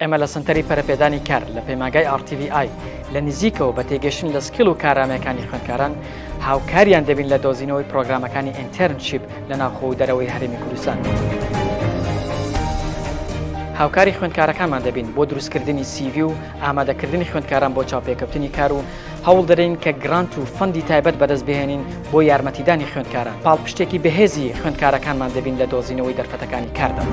ئێمە لە سەنتەری پەرەپێدانی کار لە پەیماگای ئاڕتیVI لە نزیکەوە بە تێگەشتن لە سکیل و کارامەکانی خوێندکاران هاوکاریان دەبین لە دۆزینەوەی پرۆگرامەکانی ئینتەرنشیپ لە ناوخۆ و دەرەوەی هەرێمی کوردستان. هاوکاری خوێندکارەکانمان دەبین بۆ دروستکردنی سیڤی و ئامادەکردنی خوێندکاران بۆ چاوپێکەوتنی کار و هەوڵ دەدەین کە گرانت و فەندی تایبەت بەدەست بهێنین بۆ یارمەتیدانی خوێندکاران، پاڵپشتێکی بەهێزی خوێندکارەکانمان دەبین لە دۆزینەوەی دەرفەتەکانی کاردا.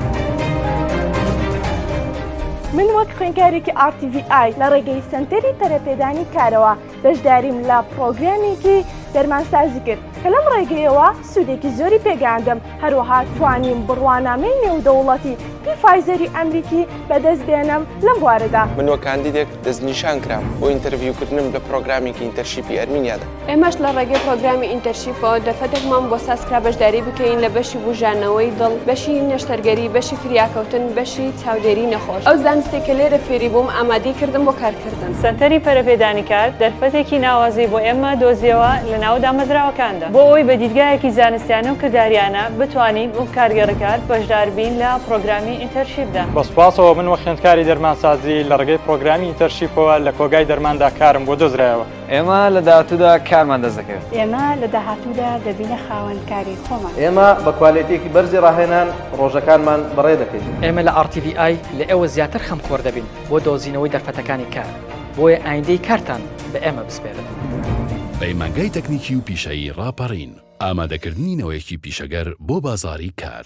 من وەک خوێندکارێکی RTVI لە ڕێگەی سەنتەری پەرەپێدانی کارەوە بەشداریم لە پڕۆگرامێکی دەرمانسازی کرد کە لەم ڕێگەیەوە سوودێکی زۆری پێگەیاندم هەروەها توانیم بڕوانامەی نێودەوڵەتی پیفایزەری ئەمریکی بەدەست بێنم لەم بوارەدا. من وەک کاندیدێک دەستنیشان کرام بۆ ئینتەرڤیوکردنم لە پرۆگرامێکی ئینتەرشیپی ئەرمینیادا. ئێمەش لە ڕێگەی پرۆگرامی ئینتەرشیپەوە دەفەتێکمان بۆ ساز کرا بەشداری بکەین لە بەشی بووژانەوەی دڵ، بەشی نەشتەرگەری، بەشی فریاکەوتن، بەشی چاودێری نەخۆش. ئەو زانستەی کە لێرە فێری بووم ئامادەی کردم بۆ کارکردن. کردن. سەنتەری پەرەپێدانی کار دەرفەتێکی ناوازەی بۆ ئێمە دۆزیەوە لە ناو دامەزراوەکاندا بۆ ئەوەی بە دیدگایەکی زانستیانە و کرداریانە بتوانین وەک کارگێڕی کار بەشدار بین لە پرۆگرامی ئینتەرشیپدا. بە سوپاسەوە من وەک خوێندکاری دەرمانسازی لە ڕێگەی پرۆگرامی ئینتەرشیپەوە لە کۆگای دەرماندا کارم بۆ دۆزرایەوە. ئێمە لە داهاتوودا کارمان دەست دەکەوێت. ئێمە لە داهاتوودا دەبینە خاوەن کاری خۆمان. ئێمە بە کوالێتییەکی بەرزی ڕاهێنان ڕۆژەکانمان بەڕێ دەکەین. ئێمە لە ئاڕ تی ڤی ئای لە ئێوە زیاتر خەمخۆر دەبین. بۆ دۆزینەوەی دەرفەتەکانی کار، بۆیە ئایندەی کارتان بە ئێمە بسپێرن. پەیمانگای تەکنیکی و پیشەیی ڕاپەڕین، ئامادەکردنی نەوەیەکی پیشەگەر بۆ بازاڕی کار.